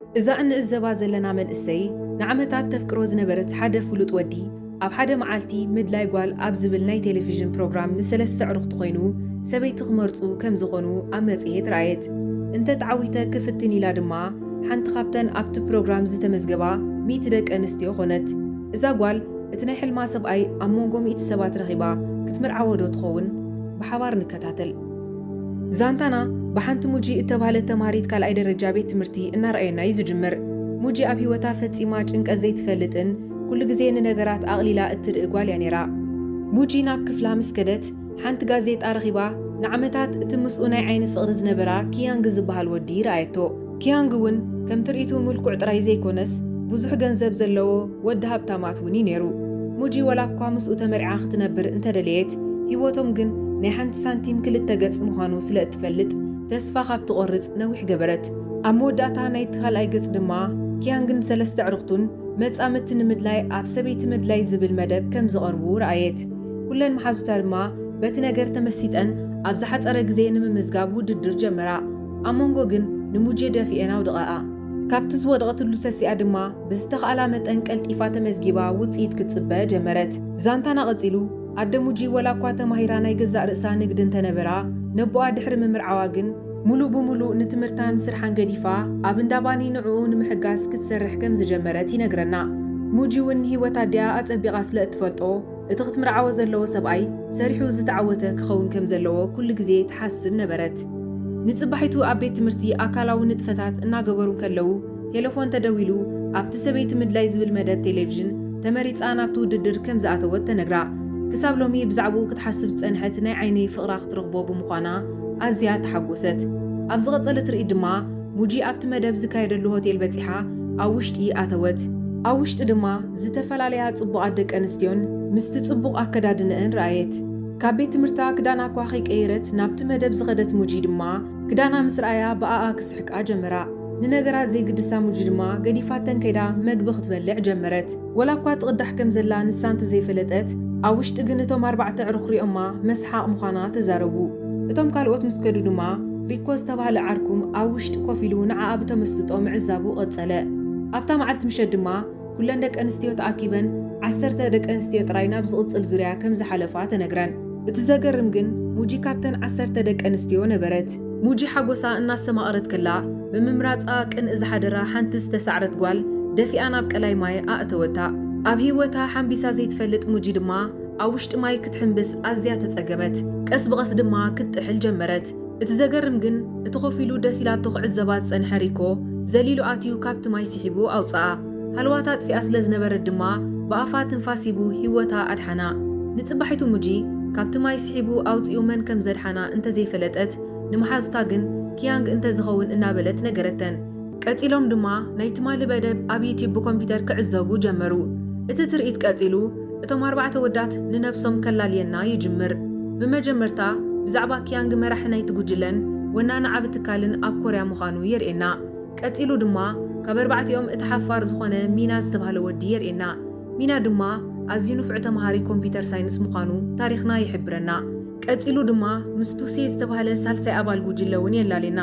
እዛ እንዕዘባ ዘለና መንእሰይ ንዓመታት ተፍቅሮ ዝነበረት ሓደ ፍሉጥ ወዲ ኣብ ሓደ መዓልቲ ምድላይ ጓል ኣብ ዝብል ናይ ቴሌቪዥን ፕሮግራም ምስ ሰለስተ ኣዕሩኽቱ ኮይኑ ሰበይቲ ክመርጹ ከም ዝኾኑ ኣብ መጽሔት ረኣየት። እንተ ተዓዊተ ክፍትን ኢላ ድማ ሓንቲ ካብተን ኣብቲ ፕሮግራም ዝተመዝገባ ሚእቲ ደቂ ኣንስትዮ ኮነት። እዛ ጓል እቲ ናይ ሕልማ ሰብኣይ ኣብ መንጎ ሚእቲ ሰባት ረኺባ ክትምርዓዎዶ ትኸውን? ብሓባር ንከታተል። ዛንታና ብሓንቲ ሙጂ እተባህለት ተምሃሪት ካልኣይ ደረጃ ቤት ትምህርቲ እናርኣየና እዩ ዝጅምር። ሙጂ ኣብ ህይወታ ፈጺማ ጭንቀት ዘይትፈልጥን ኩሉ ግዜ ንነገራት ኣቕሊላ እትርኢ ጓል እያ ነይራ። ሙጂ ናብ ክፍላ ምስ ከደት ሓንቲ ጋዜጣ ረኺባ ንዓመታት እቲ ምስኡ ናይ ዓይኒ ፍቕሪ ዝነበራ ኪያንግ ዝበሃል ወዲ ረኣየቶ። ኪያንግ ውን ከም ትርኢቱ ምልኩዕ ጥራይ ዘይኮነስ ብዙሕ ገንዘብ ዘለዎ ወዲ ሃብታማት ውን እዩ ነይሩ። ሙጂ ዋላኳ ምስኡ ተመርዕያ ክትነብር እንተደለየት ሂወቶም ግን ናይ ሓንቲ ሳንቲም ክልተ ገጽ ምዃኑ ስለ እትፈልጥ ተስፋ ካብ ትቖርጽ ነዊሕ ገበረት። ኣብ መወዳእታ ናይቲ ካልኣይ ገጽ ድማ ኪያንግን ሰለስተ ኣዕሩኽቱን መጻምድቲ ንምድላይ ኣብ ሰበይቲ ምድላይ ዝብል መደብ ከም ዝቐርቡ ረኣየት። ኩለን መሓዙታ ድማ በቲ ነገር ተመሲጠን ኣብ ዝሓጸረ ግዜ ንምምዝጋብ ውድድር ጀመራ። ኣብ መንጎ ግን ንሙጄ ደፊኤን ኣውድቐኣ። ካብቲ ዝወደቐትሉ ተሲኣ ድማ ብዝተኽኣላ መጠን ቀልጢፋ ተመዝጊባ ውጽኢት ክትጽበ ጀመረት። ዛንታና ቀጺሉ። ኣደ ሙጂ ወላኳ ተማሂራ ናይ ገዛእ ርእሳ ንግዲ እንተነበራ፣ ነቦኣ ድሕሪ ምምርዓዋ ግን፣ ምሉእ ብምሉእ ንትምህርታን ስርሓን ገዲፋ ኣብ እንዳ ባኒ ንዕኡ ንምሕጋዝ ክትሰርሕ ከምዝጀመረት ይነግረና። ሙጂ'ውን ንህይወት ኣዲኣ ኣጸቢቓ ስለእትፈልጦ፣ እቲ ክትምርዓዎ ዘለዎ ሰብኣይ ሰሪሑ ዝተዓወተ ክኸውን ከም ዘለዎ ኩሉ ግዜ ትሓስብ ነበረት። ንጽባሒቱ ኣብ ቤት ትምህርቲ ኣካላዊ ንጥፈታት እናገበሩ እንከለዉ ቴለፎን ተደዊሉ ኣብቲ ሰበይቲ ምድላይ ዝብል መደብ ቴሌቭዥን ተመሪጻ ናብቲ ውድድር ከም ዝኣተወት ተነግራ። ክሳብ ሎሚ ብዛዕብኡ ክትሓስብ ዝጸንሐት ናይ ዓይኒ ፍቕራ ክትረኽቦ ብምዃና ኣዝያ ተሓጎሰት። ኣብ ዝቐጸለ ትርኢት ድማ ሙጂ ኣብቲ መደብ ዝካየደሉ ሆቴል በጺሓ ኣብ ውሽጢ ኣተወት። ኣብ ውሽጢ ድማ ዝተፈላለያ ጽቡቓት ደቂ ኣንስትዮን ምስቲ ጽቡቕ ኣከዳድነኣን ረኣየት። ካብ ቤት ትምህርታ ክዳና'ኳ ከይቀየረት ናብቲ መደብ ዝኸደት ሙጂ ድማ፣ ክዳና ምስ ረኣያ ብኣኣ ክስሕቃ ጀመራ። ንነገራት ዘይግድሳ ሙጂ ድማ ገዲፋተን ከይዳ መግቢ ክትበልዕ ጀመረት። ወላ'ኳ ትቕዳሕ ከም ዘላ ንሳ እንተ ዘይፈለጠት፣ ኣብ ውሽጢ ግን እቶም ኣርባዕተ ኣዕሩኽ ሪኦማ መስሓቕ ምዃና ተዛረቡ። እቶም ካልኦት ምስ ከዱ ድማ፣ ሪኮ ዝተባህለ ዓርኩም ኣብ ውሽጢ ኮፍ ኢሉ ንዓኣ ብተመስጦ ምዕዛቡ ቀጸለ። ኣብታ መዓልቲ ምሸት ድማ፣ ኩለን ደቂ ኣንስትዮ ተኣኪበን ዓሰርተ ደቂ ኣንስትዮ ጥራይ ናብ ዝቕጽል ዙርያ ከም ዝሓለፋ ተነግረን። እቲ ዘገርም ግን ሙጂ ካብተን ዓሰርተ ደቂ ኣንስትዮ ነበረት። ሙጂ ሓጎሳ እናስተማቐረት ከላ ብምምራጻ ቅንኢ ዝሓደራ ሓንቲ ዝተሳዕረት ጓል ደፊኣ ናብ ቀላይ ማይ ኣእተወታ። ኣብ ህይወታ ሓምቢሳ ዘይትፈልጥ ሙጂ ድማ ኣብ ውሽጢ ማይ ክትሕምብስ ኣዝያ ተጸገመት። ቀስ ብቐስ ድማ ክትጥሕል ጀመረት። እቲ ዘገርም ግን እቲ ኮፍ ኢሉ ደስ ኢላቶ ክዕዘባ ዝጸንሐ ሪኮ ዘሊሉ ኣትዩ ካብቲ ማይ ሲሒቡ ኣውጸኣ። ሃለዋታ ኣጥፊኣ ስለ ዝነበረት ድማ ብኣፋ ትንፋስ ሂቡ ሂወታ ኣድሓና። ንጽባሒቱ ሙጂ ካብቲ ማይ ሲሒቡ ኣውጺኡ መን ከም ዘድሓና እንተ ዘይፈለጠት ንመሓዙታ ግን ኪያንግ እንተ ዝኸውን እናበለት ነገረተን። ቀጺሎም ድማ ናይ ትማሊ በደብ ኣብ ዩትዩብ ብኮምፒተር ክዕዘቡ ጀመሩ። እቲ ትርኢት ቀጺሉ እቶም ኣርባዕተ ወዳት ንነብሶም ከላልየና ይጅምር። ብመጀመርታ ብዛዕባ ኪያንግ መራሒ ናይቲ ጉጅለን ወናኒ ዓቢ ትካልን ኣብ ኮርያ ምዃኑ የርእየና። ቀጺሉ ድማ ካብ ኣርባዕቲኦም እቲ ሓፋር ዝኾነ ሚና ዝተባህለ ወዲ የርእየና። ሚና ድማ ኣዝዩ ንፉዕ ተማሃሪ ኮምፒተር ሳይንስ ምዃኑ ታሪኽና ይሕብረና። ቀጺሉ ድማ ምስ ቱሴ ዝተባህለ ሳልሳይ ኣባል ጉጅለ እውን የላልየና።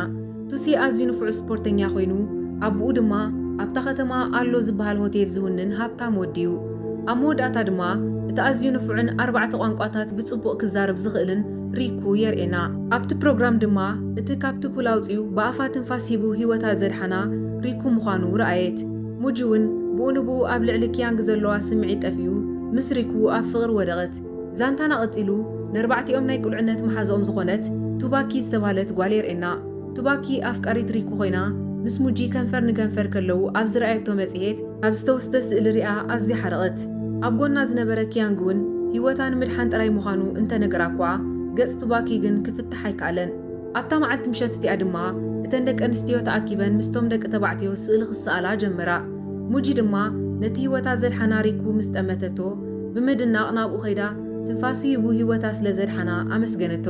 ቱሲ ኣዝዩ ንፉዕ ስፖርተኛ ኮይኑ፣ ኣቡኡ ድማ ኣብታ ከተማ ኣሎ ዝበሃል ሆቴል ዝውንን ሃብታም ወዲ'ዩ። ኣብ መወዳእታ ድማ እቲ ኣዝዩ ንፉዕን ኣርባዕተ ቋንቋታት ብጽቡቕ ክዛረብ ዝኽእልን ሪኩ የርእየና። ኣብቲ ፕሮግራም ድማ እቲ ካብቲ ፑል ኣውጺኡ ብኣፋ ትንፋስ ሂቡ ህይወታ ዘድሓና ሪኩ ምዃኑ ረኣየት። ሙጂ'ውን ብኡንብኡ ኣብ ልዕሊ ኪያንግ ዘለዋ ስምዒት ጠፊኡ ምስ ሪኩ ኣብ ፍቕሪ ወደቐት። ዛንታና ቀጺሉ ነርባዕቲኦም ናይ ቁልዕነት መሓዝኦም ዝኾነት ቱባኪ ዝተባህለት ጓል የርእየና። ቱባኪ ኣፍቃሪት ሪኩ ኮይና ምስ ሙጂ ከንፈር ንከንፈር ከለዉ ኣብ ዝረኣየቶ መጽሔት ኣብ ዝተወስደ ስእሊ ሪኣ ኣዝያ ሓረቐት። ኣብ ጎና ዝነበረ ኪያንግ'ውን ህይወታ ንምድሓን ጥራይ ምዃኑ እንተነገራ'ኳ ገጽ ቱባኪ ግን ክፍታሕ ኣይከኣለን። ኣብታ መዓልቲ ምሸት እቲኣ ድማ እተን ደቀንስትዮ ተኣኪበን ምስቶም ደቂ ተባዕትዮ ስእሊ ክሰኣላ ጀመራ። ሙጂ ድማ ነቲ ህይወታ ዘድሓና ሪኩ ምስ ጠመተቶ ብምድናቕ ናብኡ ከይዳ ትንፋሱ ሂቡ ህይወታ ስለ ዘድሓና ኣመስገነቶ።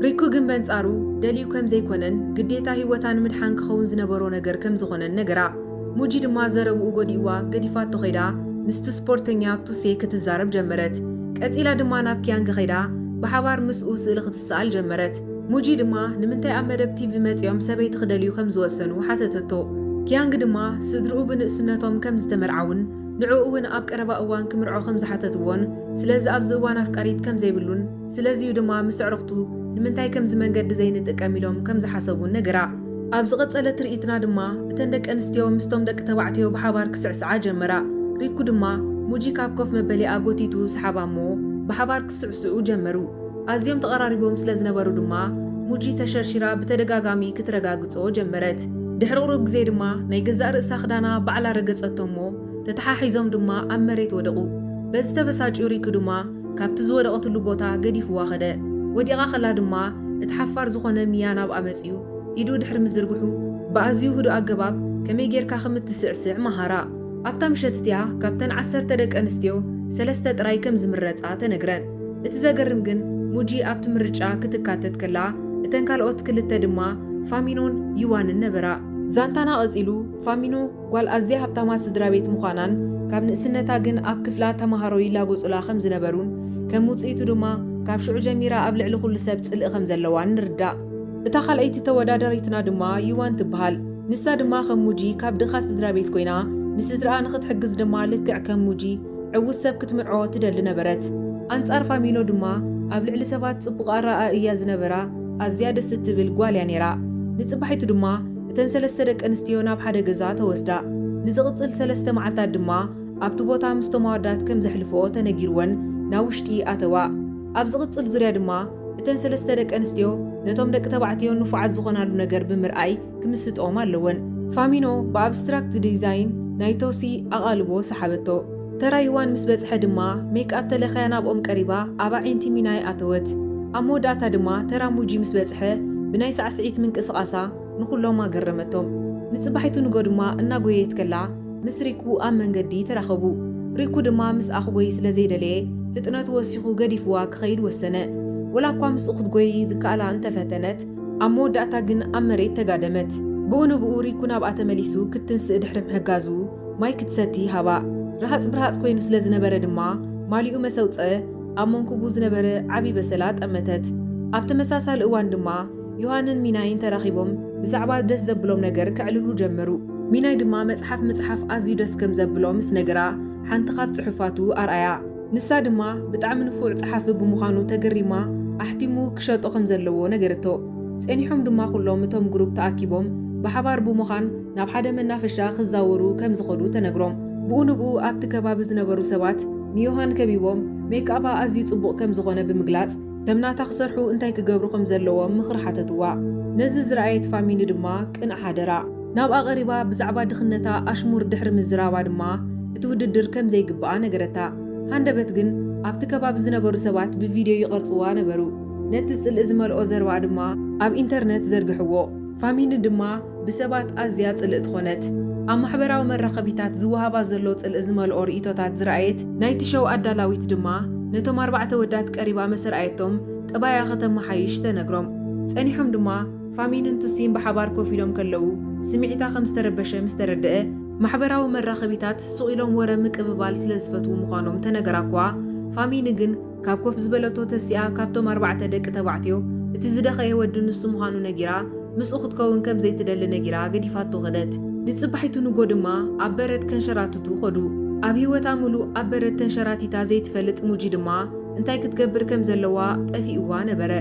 ሪኩ ግን በንጻሩ ደልዩ ከም ዘይኮነን ግዴታ ህይወታ ንምድሓን ክኸውን ዝነበሮ ነገር ከም ዝኾነን ነገራ። ሙጂ ድማ ዘረብኡ ጎዲእዋ ገዲፋቶ ከይዳ ምስቲ ስፖርተኛ ቱሴ ክትዛረብ ጀመረት። ቀጺላ ድማ ናብ ኪያንግ ከይዳ ብሓባር ምስኡ ስእሊ ክትሰኣል ጀመረት። ሙጂ ድማ ንምንታይ ኣብ መደብ ቲቪ መጺኦም ሰበይቲ ክደልዩ ከም ዝወሰኑ ሓተተቶ። ኪያንግ ድማ ስድርኡ ብንእስነቶም ከም ዝተመርዓውን ንዕኡ'ውን ኣብ ቀረባ እዋን ክምርዖ ከም ዝሓተትዎን ስለዚ ኣብዚ እዋን ኣፍቃሪት ከም ዘይብሉን ስለዚ'ዩ ድማ ምስ ኣዕሩኽቱ ንምንታይ ከምዚ መንገዲ ዘይንጥቀም ኢሎም ከም ዝሓሰቡን ነገራ። ኣብ ዝቐጸለ ትርኢትና ድማ እተን ደቂ ኣንስትዮ ምስቶም ደቂ ተባዕትዮ ብሓባር ክስዕስዓ ጀመራ። ሪኩ ድማ ሙጂ ካብ ኮፍ መበሊኣ ጎቲቱ ሰሓባ'ሞ ብሓባር ክስዕስዑ ጀመሩ። ኣዝዮም ተቐራሪቦም ስለ ዝነበሩ ድማ ሙጂ ተሸርሺራ ብተደጋጋሚ ክትረጋግጾ ጀመረት። ድሕሪ ቁሩብ ግዜ ድማ ናይ ገዛእ ርእሳ ክዳና ባዕላ ረገጸቶ እሞ ተተሓሒዞም ድማ ኣብ መሬት ወደቑ። በዚ ተበሳጭዩ ሪኪ ድማ ካብቲ ዝወደቐትሉ ቦታ ገዲፍዋ ከደ። ወዲቓ ከላ ድማ እቲ ሓፋር ዝኾነ ሚያ ናብኣ መጺኡ ኢዱ ድሕሪ ምዝርግሑ ብኣዝዩ ህዱእ ኣገባብ ከመይ ጌርካ ከም እትስዕስዕ መሃራ። ኣብታ ምሸት እቲኣ ካብተን ዓሰርተ ደቂ ኣንስትዮ ሰለስተ ጥራይ ከም ዝምረጻ ተነግረን። እቲ ዘገርም ግን ሙጂ ኣብቲ ምርጫ ክትካተት ከላ እተን ካልኦት ክልተ ድማ ፋሚኖን ዩዋንን ነበራ። ዛንታና ቀጺሉ ፋሚኖ ጓል ኣዝያ ሃብታማት ስድራቤት ምዃናን ካብ ንእስነታ ግን ኣብ ክፍላ ተመሃሮ ይላጎጹላ ከም ዝነበሩን ከም ውጽኢቱ ድማ ካብ ሽዑ ጀሚራ ኣብ ልዕሊ ኩሉ ሰብ ጽልኢ ከም ዘለዋን ንርዳእ። እታ ካልኣይቲ ተወዳዳሪትና ድማ ዩዋን ትበሃል። ንሳ ድማ ከም ሙጂ ካብ ድኻ ስድራቤት ኮይና፣ ንስድራኣ ንኽትሕግዝ ድማ ልክዕ ከም ሙጂ ዕዉት ሰብ ክትምርዖ ትደሊ ነበረት። ኣንጻር ፋሚኖ ድማ ኣብ ልዕሊ ሰባት ጽቡቕ ኣረኣእያ እያ ዝነበራ፣ ኣዝያ ደስ እትብል ጓል እያ ነይራ። ንጽባሒቱ ድማ እተን ሰለስተ ደቂ ኣንስትዮ ናብ ሓደ ገዛ ተወስዳ። ንዝቕጽል ሰለስተ መዓልታት ድማ ኣብቲ ቦታ ምስቶም ኣወዳት ከም ዘሕልፍኦ ተነጊርወን ናብ ውሽጢ ኣተዋ። ኣብ ዝቕጽል ዙርያ ድማ እተን ሰለስተ ደቂ ኣንስትዮ ነቶም ደቂ ተባዕትዮ ንፉዓት ዝኾናሉ ነገር ብምርኣይ፣ ክምስጥኦም ኣለወን። ፋሚኖ ብኣብስትራክት ዲዛይን ናይ ቶሲ ኣቓልቦ ሰሓበቶ። ተራ ዩዋን ምስ በጽሐ ድማ ሜክኣፕ ተለኽያ ናብኦም ቀሪባ ኣብ ኣዒንቲ ሚናይ ኣተወት። ኣብ መወዳእታ ድማ ተራ ሙጂ ምስ በጽሐ ብናይ ሳዕስዒት ምንቅስቓሳ ንኹሎም ኣገረመቶም። ንጽባሒቱ ንጎ ድማ እናጎየየት ከላ ምስ ሪኩ ኣብ መንገዲ ተራኸቡ። ሪኩ ድማ ምስኣ ክጎዪ ስለ ዘይደለየ ፍጥነቱ ወሲኹ ገዲፍዋ ክኸይድ ወሰነ። ወላኳ ምስኡ ክትጎዪ ዝከኣላ እንተፈተነት፣ ኣብ መወዳእታ ግን ኣብ መሬት ተጋደመት። ብኡ ንብኡ ሪኩ ናብኣ ተመሊሱ ክትትንስእ ድሕሪ ምሕጋዙ ማይ ክትሰቲ ሃባ። ርሃጽ ብርሃጽ ኮይኑ ስለ ዝነበረ ድማ ማሊኡ መሰውጸ ኣብ መንኩቡ ዝነበረ ዓቢ በሰላ ጠመተት። ኣብ ተመሳሳሊ እዋን ድማ ዮሃንን ሚናይን ተራኺቦም ብዛዕባ ደስ ዘብሎም ነገር ከዕልሉ ጀመሩ። ሚናይ ድማ መጽሓፍ ምጽሓፍ ኣዝዩ ደስ ከም ዘብሎ ምስ ነገራ ሓንቲ ካብ ጽሑፋቱ ኣርኣያ። ንሳ ድማ ብጣዕሚ ንፉዕ ጸሓፊ ብምዃኑ ተገሪማ ኣሕቲሙ ክሸጦ ከም ዘለዎ ነገረቶ። ጸኒሖም ድማ ኩሎም እቶም ግሩፕ ተኣኪቦም ብሓባር ብምዃን ናብ ሓደ መናፈሻ ክዛወሩ ከም ዝኸዱ ተነግሮም። ብኡ ንብኡ ኣብቲ ከባቢ ዝነበሩ ሰባት ንዮሃን ከቢቦም ሜክኣባ ኣዝዩ ጽቡቕ ከም ዝኾነ ብምግላጽ ከም ናታ ክሰርሑ እንታይ ክገብሩ ከም ዘለዎም ምኽሪ ሓተትዋ። ነዚ ዝረኣየት ፋሚኒ ድማ ቅንዕ ሓደራ። ናብኣ ቀሪባ ብዛዕባ ድኽነታ ኣሽሙር ድሕሪ ምዝራባ ድማ እቲ ውድድር ከም ዘይግብኣ ነገረታ። ሃንደበት ግን ኣብቲ ከባቢ ዝነበሩ ሰባት ብቪድዮ ይቐርጽዋ ነበሩ። ነቲ ጽልኢ ዝመልኦ ዘረባኣ ድማ ኣብ ኢንተርነት ዘርግሕዎ። ፋሚኒ ድማ ብሰባት ኣዝያ ጽልእቲ ዀነት። ኣብ ማሕበራዊ መራኸቢታት ዝወሃባ ዘሎ ጽልኢ ዝመልኦ ርእይቶታት ዝረኣየት ናይቲ ሸው ኣዳላዊት ድማ ነቶም ኣርባዕተ ወዳት ቀሪባ መሰ ርኣየቶም ጠባያ ከተመሓይሽ ተነግሮም። ጸኒሖም ድማ። ፋሚንን ቱሲን ብሓባር ኮፍ ኢሎም ከለዉ፣ ስሚዒታ ከም ዝተረበሸ ምስ ተረደኣ፣ ማሕበራዊ መራኸቢታት ሱቕ ኢሎም ወረ ምቅብባል ስለ ዝፈትዉ ምዃኖም ተነገራ'ኳ፣ ፋሚኒ ግን ካብ ኮፍ ዝበለቶ ተሲኣ ካብቶም ኣርባዕተ ደቂ ተባዕትዮ እቲ ዝደኸየ ወዲ ንሱ ምዃኑ ነጊራ ምስኡ ክትከውን ከም ዘይትደሊ ነጊራ ገዲፋቶ ከደት። ንጽባሒቱ ንጎ ድማ ኣብ በረድ ከንሸራትቱ ከዱ። ኣብ ህይወታ ምሉእ ኣብ በረድ ተንሸራቲታ ዘይትፈልጥ ሙጂ ድማ እንታይ ክትገብር ከም ዘለዋ ጠፊኡዋ ነበረ።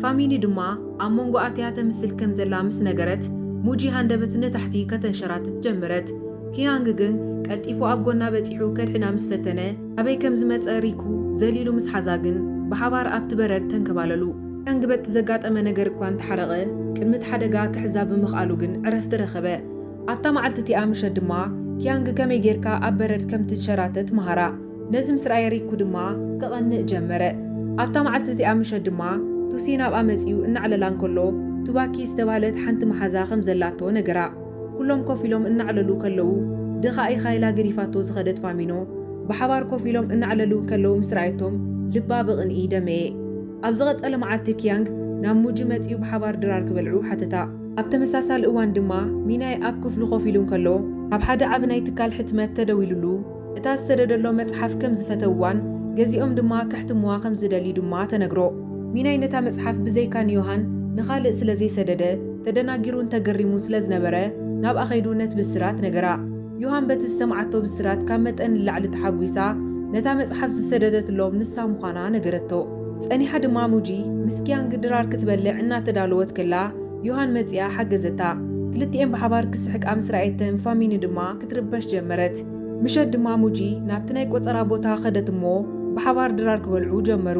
ፋሚኒ ድማ። ኣብ መንጎ ኣትያ ተምስል ከም ዘላ ምስ ነገረት፣ ሙጂ ሃንደበት ንታሕቲ ከተንሸራትት ጀመረት። ኪያንግ ግን ቀልጢፉ ኣብ ጎና በጺሑ ከድሕና ምስ ፈተነ፣ ካበይ ከም ዝመጸ ሪኩ ዘሊሉ ምስ ሓዛ ግን ብሓባር ኣብቲ በረድ ተንከባለሉ። ኪያንግ በቲ ዘጋጠመ ነገር እኳ እንተሓረቐ፣ ቅድሚ እቲ ሓደጋ ክሕዛ ብምኽኣሉ ግን ዕረፍቲ ረኸበ። ኣብታ መዓልቲ እቲኣ ምሸት ድማ፣ ኪያንግ ከመይ ጌርካ ኣብ በረድ ከም ትንሸራተት መሃራ። ነዚ ምስ ረኣየ ሪኩ ድማ ክቐንእ ጀመረ። ኣብታ መዓልቲ እዚኣ ምሸት ድማ ቱሲ ናብኣ መጺኡ እናዕለላ እንከሎ ቱባኪ ዝተባህለት ሓንቲ መሓዛ ከም ዘላቶ ነገራ። ኩሎም ኮፍ ኢሎም እናዕለሉ ከለዉ ድኻ ኢኻ ኢላ ገዲፋቶ ዝኸደት ፋሚኖ ብሓባር ኮፍ ኢሎም እናዕለሉ እንከለዉ ምስ ረኣየቶም ልባ ብቕንኢ ደመየ። ኣብ ዝቐጸለ መዓልቲ ኪያንግ ናብ ሙጂ መጺኡ ብሓባር ድራር ክበልዑ ሓተታ። ኣብ ተመሳሳሊ እዋን ድማ ሚናይ ኣብ ክፍሉ ኮፍ ኢሉ እንከሎ ኣብ ሓደ ዓቢ ናይ ትካል ሕትመት ተደዊሉሉ። እታ ዝሰደደሎ መጽሓፍ ከም ዝፈተውዋን ገዚኦም ድማ ከሕትምዋ ከም ዝደልዩ ድማ ተነግሮ። ሚናይ ነታ መጽሓፍ ብዘይካ ንዮሃን ንኻልእ ስለ ዘይሰደደ ተደናጊሩን ተገሪሙን ስለ ዝነበረ ናብኣ ከይዱ ነቲ ብስራት ነገራ። ዮሃን በቲ ዝሰምዓቶ ብስራት ካብ መጠን ንላዕሊ ተሓጒሳ ነታ መጽሓፍ ዝሰደደትሎም ንሳ ምዃና ነገረቶ። ጸኒሓ ድማ ሙጂ ምስ ኪያንግ ድራር ክትበልዕ እናተዳለወት ከላ ዮሃን መጺኣ ሓገዘታ። ክልቲኤን ብሓባር ክስሕቃ ምስ ረኣየተን ፋሚኒ ድማ ክትርበሽ ጀመረት። ምሸት ድማ ሙጂ ናብቲ ናይ ቆጸራ ቦታ ከደት እሞ ብሓባር ድራር ክበልዑ ጀመሩ።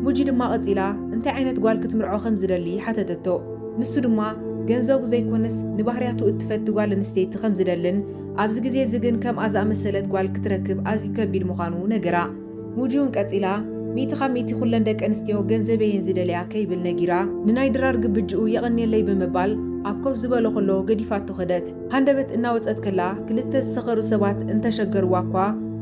ሙጂ ድማ ቀጺላ እንታይ ዓይነት ጓል ክትምርዖ ከም ዝደሊ ሓተተቶ። ንሱ ድማ ገንዘቡ ዘይኮነስ ንባህርያቱ እትፈቲ ጓል ኣንስተይቲ ከም ዝደልን ኣብዚ ግዜ እዚ ግን ከምኣ ዝኣመሰለት ጓል ክትረክብ ኣዝዩ ከቢድ ምዃኑ ነገራ። ሙጂውን ቀጺላ፣ ሚእቲ ካብ ሚእቲ ኩለን ደቂ ኣንስትዮ ገንዘበይ እየን ዝደልያ ከይብል ነጊራ፣ ንናይ ድራር ግብጅኡ የቐንየለይ ብምባል ኣብ ኮፍ ዝበሎ ከሎ ገዲፋቶ ከደት። ሃንደበት እናወጸት ከላ ክልተ ዝሰኸሩ ሰባት እንተሸገርዋ'ኳ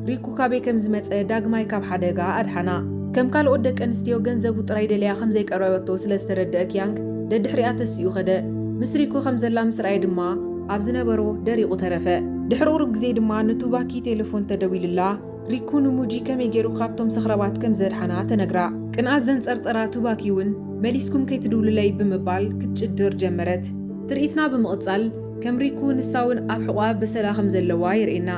ሪኩ ካበይ ከም ዝመጸ ዳግማይ ካብ ሓደጋ ኣድሓና። ከም ካልኦት ደቂ ኣንስትዮ ገንዘቡ ጥራይ ደልያ ከም ዘይቀረበቶ ስለ ዝተረደኣ ኪያንግ ደድሕሪኣ ተሲኡ ከደ። ምስ ሪኩ ከም ዘላ ምስ ረኣየ ድማ ኣብ ዝነበሮ ደሪቑ ተረፈ። ድሕሪ ቁሩብ ግዜ ድማ ንቱባኪ ቴለፎን ተደዊሉላ፣ ሪኩ ንሙጂ ከመይ ጌሩ ካብቶም ሰኽራባት ከም ዘድሓና ተነግራ። ቅንኣት ዘንጸርጸራ ቱባኪ'ውን መሊስኩም ከይትድውሉለይ ብምባል ክትጭድር ጀመረት። ትርኢትና ብምቕጻል ከም ሪኩ ንሳ'ውን ኣብ ሕቖኣ በሰላ ከም ዘለዋ የርእየና።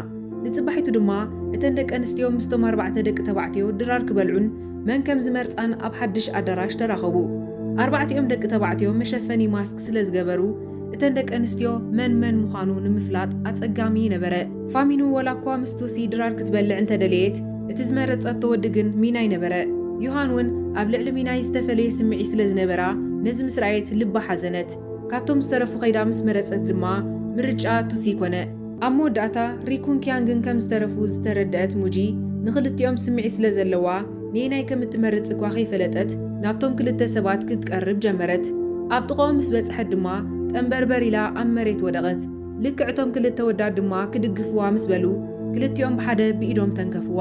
ንጽባሒቱ ድማ እተን ደቀንስትዮ ምስቶም ኣርባዕተ ደቂ ተባዕትዮ ድራር ክበልዑን መን ከም ዝመርጻን ኣብ ሓድሽ ኣዳራሽ ተራኸቡ። ኣርባዕቲኦም ደቂ ተባዕትዮ መሸፈኒ ማስክ ስለ ዝገበሩ፣ እተን ደቂ ኣንስትዮ መን መን ምዃኑ ንምፍላጥ ኣጸጋሚ ነበረ። ፋሚኑ ወላ እኳ ምስ ቱሲ ድራር ክትበልዕ እንተ ደለየት፣ እቲ ዝመረጸቶ ወዲ ግን ሚናይ ነበረ። ዩሃን እውን ኣብ ልዕሊ ሚናይ ዝተፈለየ ስምዒት ስለ ዝነበራ ነዚ ምስ ረኣየት ልባ ሓዘነት። ካብቶም ዝተረፉ ከይዳ ምስ መረጸት ድማ ምርጫኣ ቱሲ ኮነ። ኣብ መወዳእታ ሪኩን ኪያንግን ከም ዝተረፉ ዝተረድኣት ሙጂ፣ ንኽልቲኦም ስምዒት ስለ ዘለዋ ነየናይ ከም እትመርጽ እኳ ከይፈለጠት ናብቶም ክልተ ሰባት ክትቀርብ ጀመረት። ኣብ ጥቓኦም ምስ በጽሐት ድማ ጠምበርበር ኢላ ኣብ መሬት ወደቐት። ልክዕ እቶም ክልተ ወዳት ድማ ክድግፍዋ ምስ በሉ፣ ክልቲኦም ብሓደ ብኢዶም ተንከፍዋ።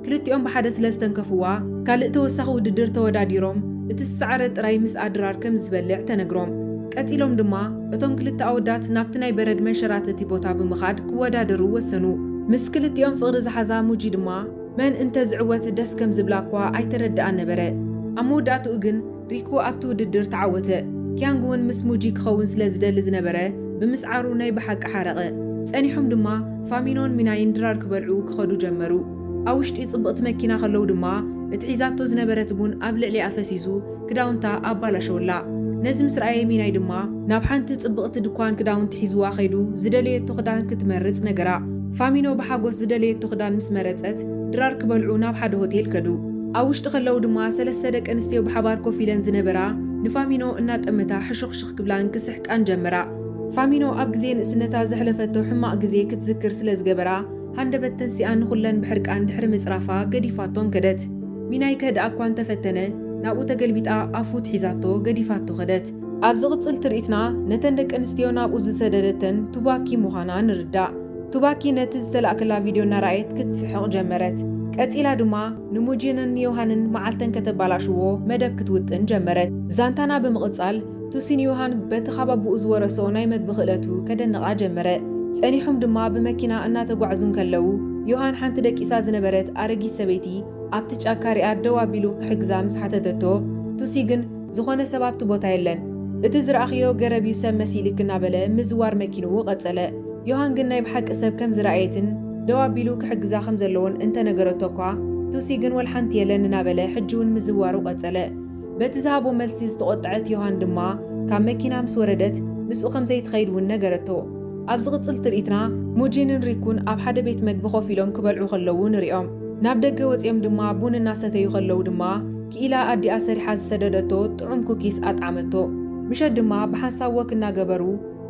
ክልቲኦም ብሓደ ስለ ዝተንከፍዋ፣ ካልእ ተወሳኺ ውድድር ተወዳዲሮም እቲ ዝሰዓረ ጥራይ ምስኣ ድራር ከም ዝበልዕ ተነግሮም። ቀጺሎም ድማ እቶም ክልተ ኣወዳት ናብቲ ናይ በረድ መንሸራተቲ ቦታ ብምኻድ ክወዳደሩ ወሰኑ። ምስ ክልቲኦም ፍቕሪ ዝሓዛ ሙጂ ድማ መን እንተ ዝዕወት ደስ ከም ዝብላ'ኳ ኣይተረድኣን ነበረ። ኣብ መወዳእትኡ ግን፣ ሪኩ ኣብቲ ውድድር ተዓወተ። ኪያንግ እውን ምስ ሙጂ ክኸውን ስለ ዝደሊ ዝነበረ ብምስዓሩ ናይ ብሓቂ ሓረቐ። ጸኒሖም ድማ ፋሚኖን ሚናይን ድራር ክበልዑ ክኸዱ ጀመሩ። ኣብ ውሽጢ ጽብቕቲ መኪና ከለዉ ድማ እቲ ሒዛቶ ዝነበረት ቡን ኣብ ልዕሊኣ ፈሲሱ ክዳውንታ ኣባላሸወላ። ነዚ ምስ ረኣየ ሚናይ ድማ። ናብ ሓንቲ ጽብቕቲ ድኳን ክዳውንቲ ሒዝዋ ከይዱ ዝደለየቶ ክዳን ክትመርጽ ነገራ። ፋሚኖ ብሓጎስ ዝደለየቶ ክዳን ምስ መረጸት ድራር ክበልዑ ናብ ሓደ ሆቴል ከዱ። ኣብ ውሽጢ ከለዉ ድማ ሰለስተ ደቂ ኣንስትዮ ብሓባር ኮፍ ኢለን ዝነበራ ንፋሚኖ እናጠመታ ሕሹኽሹኽ ክብላን ክስሕቃን ጀመራ። ፋሚኖ ኣብ ግዜ ንእስነታ ዘሕለፈቶ ሕማቕ ግዜ ክትዝክር ስለ ዝገበራ ሃንደበት ተንሲኣ ንኹለን ብሕርቃን ድሕሪ ምጽራፋ ገዲፋቶም ከደት። ሚናይ ከህድኣ እኳ እንተ ፈተነ ናብኡ ተገልቢጣ ኣፉ ትሒዛቶ ገዲፋቶ ከደት። ኣብ ዝቕጽል ትርኢትና ነተን ደቂ ኣንስትዮ ናብኡ ዝሰደደተን ቱባኪ ምዃና ንርዳእ። ቱባኪ ነቲ ዝተላእከላ ቪድዮ እናረኣየት ክትስሕቕ ጀመረት። ቀጺላ ድማ ንሙጂንን ንዮሃንን መዓልተን ከተባላሽዎ መደብ ክትውጥን ጀመረት። ዛንታና ብምቕጻል፣ ቱሲ ንዮሃን በቲ ካብ ኣቡኡ ዝወረሶ ናይ መግቢ ክእለቱ ከደንቓ ጀመረ። ጸኒሖም ድማ ብመኪና እናተጓዕዙ እንከለዉ፣ ዮሃን ሓንቲ ደቂሳ ዝነበረት ኣረጊት ሰበይቲ ኣብቲ ጫካ ሪኣ ደው ኣቢሉ ክሕግዛ ምስ ሓተተቶ፣ ቱሲ ግን፣ ዝኾነ ሰብ ኣብቲ ቦታ የለን። እቲ ዝረኣኽዮ ገረብ እዩ ሰብ መሲልክ እናበለ ምዝዋር መኪንኡ ቀጸለ። ዮሃን ግን ናይ ብሓቂ ሰብ ከም ዝረኣየትን ደው ኣቢሉ ክሕግዛ ከም ዘለዎን እንተ ነገረቶ እኳ ቱሲ ግን ወልሓንቲ የለን እናበለ ሕጂውን ምዝዋሩ ቀጸለ። በቲ ዝሃቦ መልሲ ዝተቖጠዐት ዮሃን ድማ ካብ መኪና ምስ ወረደት ምስኡ ከም ዘይትኸይድ እውን ነገረቶ። ኣብ ዝቕጽል ትርኢትና ሙጂንን ሪኩን ኣብ ሓደ ቤት መግቢ ኮፍ ኢሎም ክበልዑ ከለዉ ንሪኦም። ናብ ደገ ወጺኦም ድማ ቡን እናሰተዩ ከለዉ ድማ ክኢላ ኣዲኣ ሰሪሓ ዝሰደደቶ ጥዑም ኩኪስ ኣጥዓመቶ። ምሸት ድማ ብሓንሳብ ወክ እናገበሩ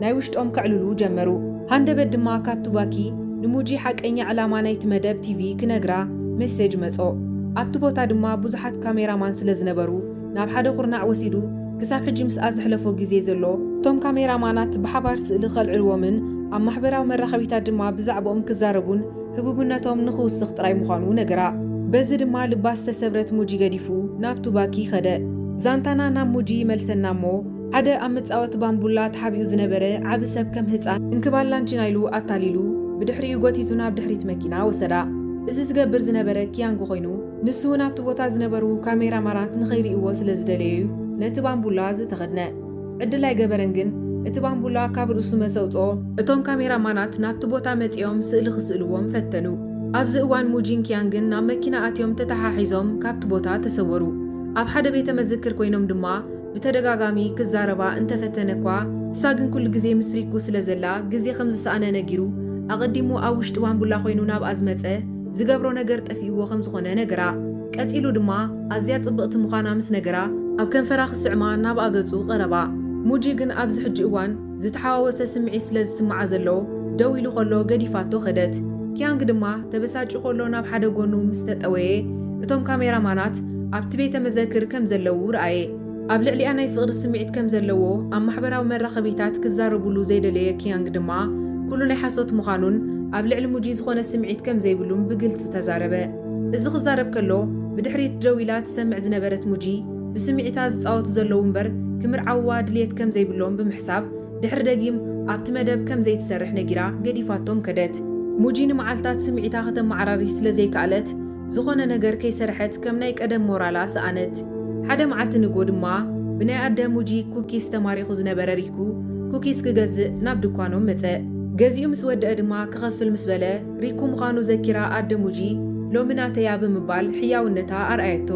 ናይ ውሽጦም ከዕልሉ ጀመሩ። ሃንደበት ድማ ካብ ቱባኪ ንሙጂ ሓቀኛ ዕላማ ናይቲ መደብ ቲቪ ክነግራ ሜሴጅ መጾ። ኣብቲ ቦታ ድማ ብዙሓት ካሜራማን ስለ ዝነበሩ ናብ ሓደ ኩርናዕ ወሲዱ ክሳብ ሕጂ ምስኣ ዘሕለፎ ግዜ ዘሎ፣ እቶም ካሜራማናት ብሓባር ስእሊ ከልዕልዎምን ኣብ ማሕበራዊ መራኸቢታት ድማ ብዛዕብኦም ክዛረቡን ህቡብነቶም ንኽውስኽ ጥራይ ምዃኑ ነገራ። በዚ ድማ ልባ ዝተሰብረት ሙጂ ገዲፉ ናብ ቱባኪ ከደ። ዛንታና ናብ ሙጂ ይመልሰና እሞ፣ ሓደ ኣብ መጻወቲ ባምቡላ ተሓቢኡ ዝነበረ ዓቢ ሰብ ከም ህጻን እንክባል ላንቺና ኢሉ ኣታሊሉ ብድሕሪኡ ጎቲቱ ናብ ድሕሪት መኪና ወሰዳ። እዚ ዝገብር ዝነበረ ኪያንግ ኮይኑ፣ ንሱውን ኣብቲ ቦታ ዝነበሩ ካሜራማናት ንኸይርእይዎ ስለዝደለዮዩ ነቲ ባምቡላ ዝተኸድነ። ዕድል ኣይገበረን ግን እቲ ባምቡላ ካብ ርእሱ መሰውጽኦ። እቶም ካሜራ ማናት ናብቲ ቦታ መጺኦም ስእሊ ክስእልዎም ፈተኑ። ኣብዚ እዋን ሙጂን ኪያንግን ናብ መኪና ኣትዮም ተተሓሒዞም ካብቲ ቦታ ተሰወሩ። ኣብ ሓደ ቤተ መዝክር ኮይኖም ድማ ብተደጋጋሚ ክዛረባ እንተፈተነ'ኳ ንሳ ግን ኩሉ ግዜ ምስ ሪኩ ስለ ዘላ ግዜ ከም ዝሰኣነ ነጊሩ ኣቐዲሙ ኣብ ውሽጢ ባምቡላ ኮይኑ ናብኣ ዝመጸ ዝገብሮ ነገር ጠፊእዎ ከም ዝኾነ ነገራ። ቀጺሉ ድማ ኣዝያ ጽብቕቲ ምዃና ምስ ነገራ፣ ኣብ ከንፈራ ክስዕማ ናብኣ ገጹ ቀረባ። ሙጂ ግን ኣብዚ ሕጂ እዋን ዝተሓዋወሰ ስምዒት ስለ ዝስምዓ ዘሎ፣ ደው ኢሉ ከሎ ገዲፋቶ ከደት። ኪያንግ ድማ ተበሳጭዩ ከሎ ናብ ሓደ ጎኑ ምስ ተጠወየ፣ እቶም ካሜራማናት ኣብቲ ቤተ መዘክር ከም ዘለዉ ረኣየ። ኣብ ልዕሊኣ ናይ ፍቕሪ ስምዒት ከም ዘለዎ ኣብ ማሕበራዊ መራኸቢታት ክዛረቡሉ ዘይደለየ ኪያንግ ድማ፣ ኩሉ ናይ ሓሶት ምዃኑን ኣብ ልዕሊ ሙጂ ዝኾነ ስምዒት ከም ዘይብሉን ብግልጺ ተዛረበ። እዚ ክዛረብ ከሎ ብድሕሪት ደው ኢላ ትሰምዕ ዝነበረት ሙጂ፣ ብስምዒታ ዝጻወቱ ዘለዉ እምበር ክምርዓውዋ ድልየት ከም ዘይብሎም ብምሕሳብ፣ ድሕሪ ደጊም ኣብቲ መደብ ከም ዘይትሰርሕ ነጊራ ገዲፋቶም ከደት። ሙጂ ንመዓልታት ስምዒታ ከተመዓራሪ ስለ ዘይከኣለት፣ ዝዀነ ነገር ከይሰርሐት ከም ናይ ቀደም ሞራላ ሰኣነት። ሓደ መዓልቲ ንግሆ ድማ፣ ብናይ ኣደ ሙጂ ኩኪስ ተማሪኹ ዝነበረ ሪኩ፣ ኩኪስ ክገዝእ ናብ ድኳኖም መጸ። ገዚኡ ምስ ወደኣ ድማ ክኸፍል ምስ በለ፣ ሪኩ ምዃኑ ዘኪራ ኣደ ሙጂ፣ ሎሚ ናተይ'ያ ብምባል ሕያውነታ ኣርኣየቶ።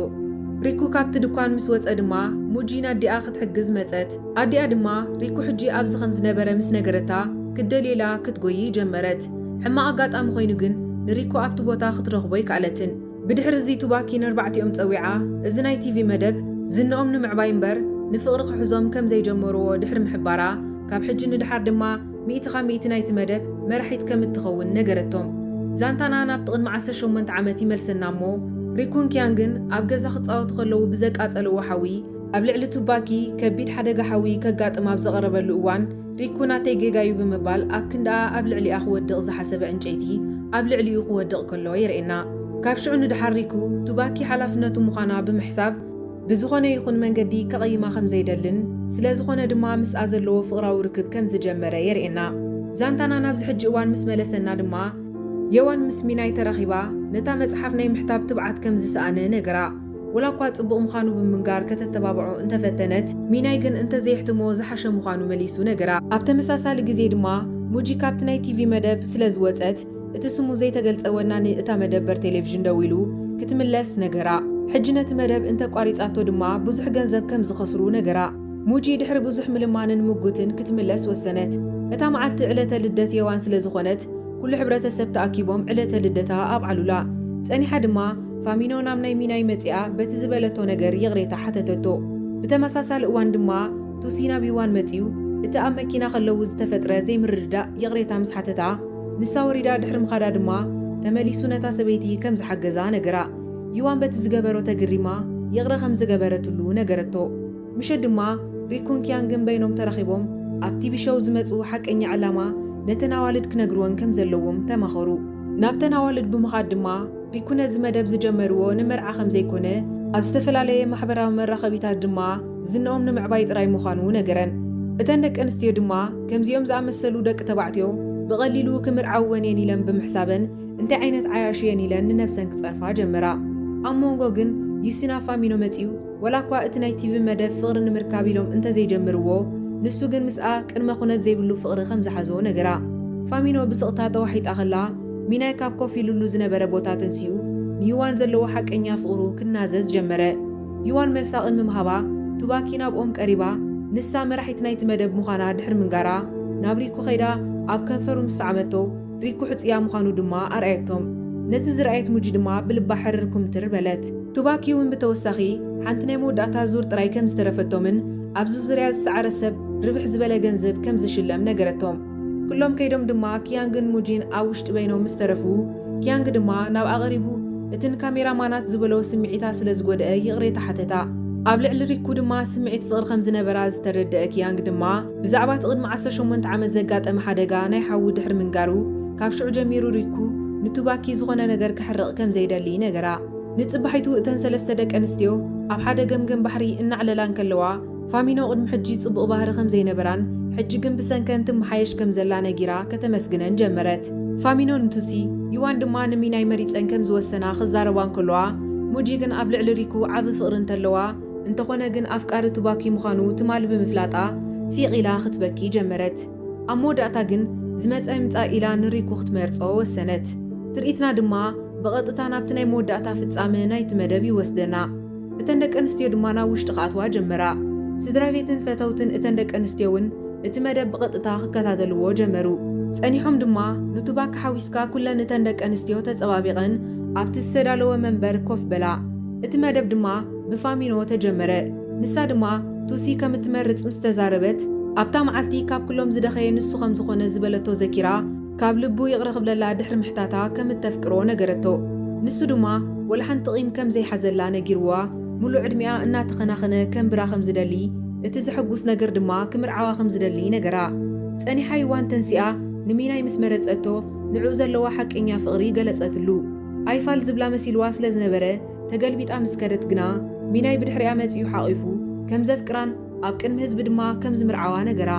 ሪኩ ካብቲ ድኳን ምስ ወጸ ድማ፣ ሙጂ ንኣዲኣ ክትሕግዝ መጸት። ኣዲኣ ድማ፣ ሪኩ ሕጂ ኣብዚ ከም ዝነበረ ምስ ነገረታ፣ ክትደልየላ ክትጎዪ ጀመረት። ሕማቕ ኣጋጣሚ ኰይኑ ግን፣ ንሪኩ ኣብቲ ቦታ ክትረኽቦ ኣይከኣለትን። ብድሕር'ዚ ቱባኪ ነርባዕቲኦም ጸዊዓ፣ እዚ ናይ ቲቪ መደብ፣ ዝንኦም ንምዕባይ እምበር ንፍቕሪ ክሕዞም ከም ዘይጀመሩዎ ድሕሪ ምሕባራ፣ ካብ ሕጂ ንደሓር ድማ፣ ሚእቲ ካብ ሚእቲ ናይቲ መደብ መራሒት ከም እትኸውን ነገረቶም። ዛንታና ናብቲ ቅድሚ ዓሰርተ ሸሞንተ ዓመት ይመልሰና እሞ፣ ሪኩን ኪያንግን ኣብ ገዛ ክጻወቱ ከለዉ ብዘቃጸልዎ ሓዊ፣ ኣብ ልዕሊ ቱባኪ ከቢድ ሓደጋ ሓዊ ከጋጥም ኣብ ዝቐረበሉ እዋን፣ ሪኩ ናተይ ጌጋ'ዩ ብምባል ኣብ ክንድኣ ኣብ ልዕሊኣ ክወድቕ ዝሓሰበ ዕንጨይቲ ኣብ ልዕሊኡ ክወድቕ ከሎ የርእየና። ካብ ሽዑ ንደሓር ሪኩ፣ ቱባኪ ሓላፍነቱ ምዃና ብምሕሳብ፣ ብዝኾነ ይኹን መንገዲ ከቐይማ ከም ዘይደልን ስለ ዝኾነ ድማ ምስኣ ዘለዎ ፍቕራዊ ርክብ ከም ዝጀመረ የርእየና። ዛንታና ናብዚ ሕጂ እዋን ምስ መለሰና ድማ የዋን ምስ ሚናይ ተራኺባ ነታ መጽሓፍ ናይ ምሕታብ ትብዓት ከም ዝሰኣነ ነገራ። ወላኳ ጽቡቕ ምዃኑ ብምንጋር ከተተባብዖ እንተ ፈተነት፣ ሚናይ ግን እንተ ዘየሕትሞ ዝሓሸ ምዃኑ መሊሱ ነገራ። ኣብ ተመሳሳሊ ግዜ ድማ ሙጂ ካብቲ ናይ ቲቪ መደብ ስለ ዝወጸት እቲ ስሙ ዘይተገልጸ ወናኒ እታ መደበር ቴሌቪዥን ደዊሉ ክትምለስ ነገራ። ሕጂ ነቲ መደብ እንተ ኣቋሪጻቶ ድማ ብዙሕ ገንዘብ ከም ዝኸስሩ ነገራ። ሙጂ ድሕሪ ብዙሕ ምልማንን ምጉትን ክትምለስ ወሰነት። እታ መዓልቲ ዕለተ ልደት የዋን ስለ ዝኾነት ኩሉ ሕብረተሰብ ተኣኪቦም ዕለተ ልደታ ኣብዓሉላ። ጸኒሓ ድማ ፋሚኖ ናብ ናይ ሚናይ መጺኣ በቲ ዝበለቶ ነገር ይቕሬታ ሓተተቶ። ብተመሳሳሊ እዋን ድማ ቱሲ ናብ ዩዋን መጺኡ እቲ ኣብ መኪና ከለዉ ዝተፈጥረ ዘይምርድዳእ ይቕሬታ ምስ ሓተታ፣ ንሳ ወሪዳ ድሕሪ ምኻዳ ድማ ተመሊሱ ነታ ሰበይቲ ከም ዝሓገዛ ነገራ። ዩዋን በቲ ዝገበሮ ተግሪማ ይቕረ ከም ዝገበረትሉ ነገረቶ። ምሸት ድማ ሪኩን ኪያንግን በይኖም ተራኺቦም ኣብ ቲቪ ሸው ዝመጽኡ ሓቀኛ ዕላማ ነተን ኣዋልድ ክነግርወን ከም ዘለዎም ተማኸሩ። ናብተን ኣዋልድ ብምኻድ ድማ ሪኩ ነዚ መደብ ዝጀመርዎ ንመርዓ ከም ዘይኮነ፣ ኣብ ዝተፈላለየ ማሕበራዊ መራኸቢታት ድማ ዝንኦም ንምዕባይ ጥራይ ምዃኑ ነገረን። እተን ደቂ ኣንስትዮ ድማ ከምዚኦም ዝኣመሰሉ ደቂ ተባዕትዮ ብቐሊሉ ክምርዓወን እየን ኢለን ብምሕሳበን እንታይ ዓይነት ዓያሹ እየን ኢለን ንነብሰን ክጸርፋ ጀመራ። ኣብ ሞንጎ ግን ዩሲና ፋሚኖ መጺኡ ወላኳ እቲ ናይ ቲቪ መደብ ፍቕሪ ንምርካብ ኢሎም እንተዘይጀምርዎ፣ ንሱ ግን ምስኣ ቅድመ ኩነት ዘይብሉ ፍቕሪ ከም ዝሓዞ ነገራ። ፋሚኖ ብስቕታ ተዋሒጣ ከላ፣ ሚናይ ካብ ኮፍ ኢሉሉ ዝነበረ ቦታ ተንሲኡ ንዩዋን ዘለዎ ሓቀኛ ፍቕሩ ክናዘዝ ጀመረ። ዩዋን መልሳ ቅድሚ ምሃባ፣ ቱባኪ ናብኦም ቀሪባ ንሳ መራሒት ናይቲ መደብ ምዃና ድሕሪ ምንጋራ፣ ናብ ሪኩ ከይዳ ኣብ ከንፈሩ ምስ ሰዓመቶ፣ ሪኩ ሕጽያ ምዃኑ ድማ ኣርኣየቶም። ነዚ ዝረኣየት ሙጂ ድማ ብልባ ሕርር ኩምትር በለት። ቱባኪ'ውን ብተወሳኺ ሓንቲ ናይ መወዳእታ ዙር ጥራይ ከም ዝተረፈቶምን ኣብዚ ዙርያ ዝሰዓረ ሰብ ርብሕ ዝበለ ገንዘብ ከም ዝሽለም ነገረቶም። ኩሎም ከይዶም ድማ ኪያንግን ሙጂን ኣብ ውሽጢ በይኖም ምስ ተረፉ ኪያንግ ድማ ናብ ኣቐሪቡ እቲ ንካሜራ ማናት ዝበሎ ስምዒታ ስለ ዝጎደኣ ይቕሬታ ሓተታ። ኣብ ልዕሊ ሪኩ ድማ ስምዒት ፍቕሪ ከም ዝነበራ ዝተረደኣ ኪያንግ ድማ፣ ብዛዕባ እቲ ቅድሚ ዓሰርተ ሸሞንተ ዓመት ዘጋጠመ ሓደጋ ናይ ሓዉ ድሕሪ ምንጋሩ፣ ካብ ሽዑ ጀሚሩ ሪኩ ንቱባኪ ዝኾነ ነገር ከሕርቕ ከም ዘይደሊ ነገራ። ንጽባሒቱ እተን ሰለስተ ደቂ ኣንስትዮ ኣብ ሓደ ገምገም ባሕሪ እናዕለላ እንከለዋ፣ ፋሚኖ ቅድሚ ሕጂ ጽቡቕ ባህሪ ከም ዘይነበራን ሕጂ ግን ብሰንከን ትመሓየሽ ከም ዘላ ነጊራ ከተመስግነን ጀመረት። ፋሚኖ ንቱሲ፣ ዩዋን ድማ ንሚናይ መሪጸን ከም ዝወሰና ክዛረባ እንከለዋ፣ ሙጂ ግን ኣብ ልዕሊ ሪኩ ዓቢ ፍቕሪ እንተለዋ፣ እንተኾነ ግን ኣፍቃሪ ቱባኪ ምዃኑ ትማል ብምፍላጣ ፊቕ ኢላ ክትበኪ ጀመረት። ኣብ መወዳእታ ግን ዝመጸ ይምጻእ ኢላ ንሪኩ ክትመርጾ ወሰነት። ትርኢትና ድማ ብቐጥታ ናብቲ ናይ መወዳእታ ፍጻመ ናይቲ መደብ ይወስደና። እተን ደቂ ኣንስትዮ ድማ ናብ ውሽጢ ክኣትዋ ጀመራ። ስድራቤትን ፈተውትን እተን ደቂ ኣንስትዮ እውን እቲ መደብ ብቐጥታ ክከታተልዎ ጀመሩ። ጸኒሖም ድማ ንቱባኪ ሓዊስካ ኩለን እተን ደቂ ኣንስትዮ ተጸባቢቐን ኣብቲ ዝተዳለወ መንበር ኮፍ በላ። እቲ መደብ ድማ ብፋሚኖ ተጀመረ። ንሳ ድማ ቱሲ ከም እትመርጽ ምስ ተዛረበት፣ ኣብታ መዓልቲ ካብ ኩሎም ዝደኸየ ንሱ ከም ዝኾነ ዝበለቶ ዘኪራ፣ ካብ ልቡ ይቕረ ክብለላ ድሕሪ ምሕታታ ከም እተፍቅሮ ነገረቶ። ንሱ ድማ ወላ ሓንቲ ቂም ከም ዘይሓዘላ ነጊርዋ፣ ምሉእ ዕድሚኣ እናተኸናኸነ ከንብራ ከም ዝደሊ፣ እቲ ዘሐጉስ ነገር ድማ ክምርዓዋ ከም ዝደሊ ነገራ። ጸኒሓ ይዋን ተንሲኣ ንሚናይ ምስ መረጸቶ ንዕኡ ዘለዋ ሓቀኛ ፍቕሪ ገለጸትሉ። ኣይፋል ዝብላ መሲልዋ ስለ ዝነበረ፣ ተገልቢጣ ምስ ከደት ግና፣ ሚናይ ብድሕሪኣ መጺኡ ሓቚፉ ከም ዘፍቅራን ኣብ ቅድሚ ህዝቢ ድማ ከም ዝምርዓዋ ነገራ።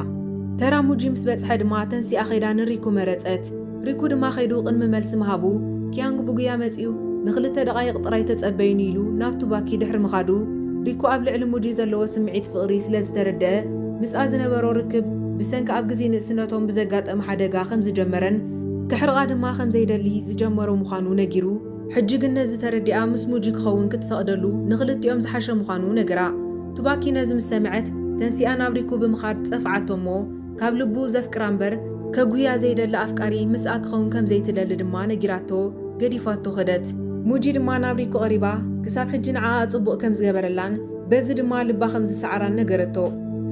ተራ ሙጂ ምስ በጽሐ ድማ ተንሲኣ ከይዳ ንሪኩ መረጸት። ሪኩ ድማ ከይዱ ቅድሚ መልሲ ምሃቡ፣ ኪያንግ ብጉያ መጺኡ ንኽልተ ደቓይቕ ጥራይ ተጸበዩኒ ኢሉ ናብ ቱባኪ ድሕሪ ምኻዱ፣ ሪኩ ኣብ ልዕሊ ሙጂ ዘለዎ ስምዒት ፍቕሪ ስለ ዝተረደኣ ምስኣ ዝነበሮ ርክብ ብሰንኪ ኣብ ግዜ ንእስነቶም ብዘጋጠመ ሓደጋ ከም ዝጀመረን ከሕርቓ ድማ ከም ዘይደሊ ዝጀመሮ ምዃኑ ነጊሩ። ሕጂ ግን ነዚ ተረዲኣ ምስ ሙጂ ክኸውን ክትፈቕደሉ ንኽልቲኦም ዝሓሸ ምዃኑ ነገራ። ቱባኪ ነዚ ምስ ሰምዐት ተንሲኣ ናብ ሪኩ ብምኻድ ጸፍዓቶ እሞ ካብ ልቡ ዘፍቅራ እምበር ከጉህያ ዘይደሊ ኣፍቃሪ ምስኣ ክኸውን ከም ዘይትደሊ ድማ ነጊራቶ ገዲፋቶ ከደት። ሙጂ ድማ ናብ ሪኩ ቀሪባ ክሳብ ሕጂ ንዓኣ ጽቡቕ ከም ዝገበረላን በዚ ድማ ልባ ከም ዝሰዓራን ነገረቶ።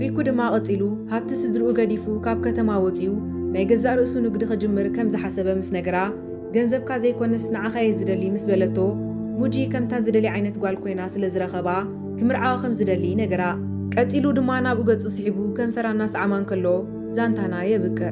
ሪኩ ድማ ቀጺሉ ሃብቲ ስድርኡ ገዲፉ ካብ ከተማ ወጺኡ ናይ ገዛእ ርእሱ ንግዲ ክጅምር ከም ዝሓሰበ ምስ ነገራ ገንዘብካ ዘይኮነስ ንዓኻ'የ ዝደሊ ምስ በለቶ፣ ሙጂ ከምታ ዝደልያ ዓይነት ጓል ኮይና ስለ ዝረኸባ ክምርዓዋ ከም ዝደሊ ነገራ። ቀጺሉ ድማ ናብኡ ገጹ ስሒቡ ከንፈራ እናሰዓማ እንከሎ ዛንታና የብቅዕ።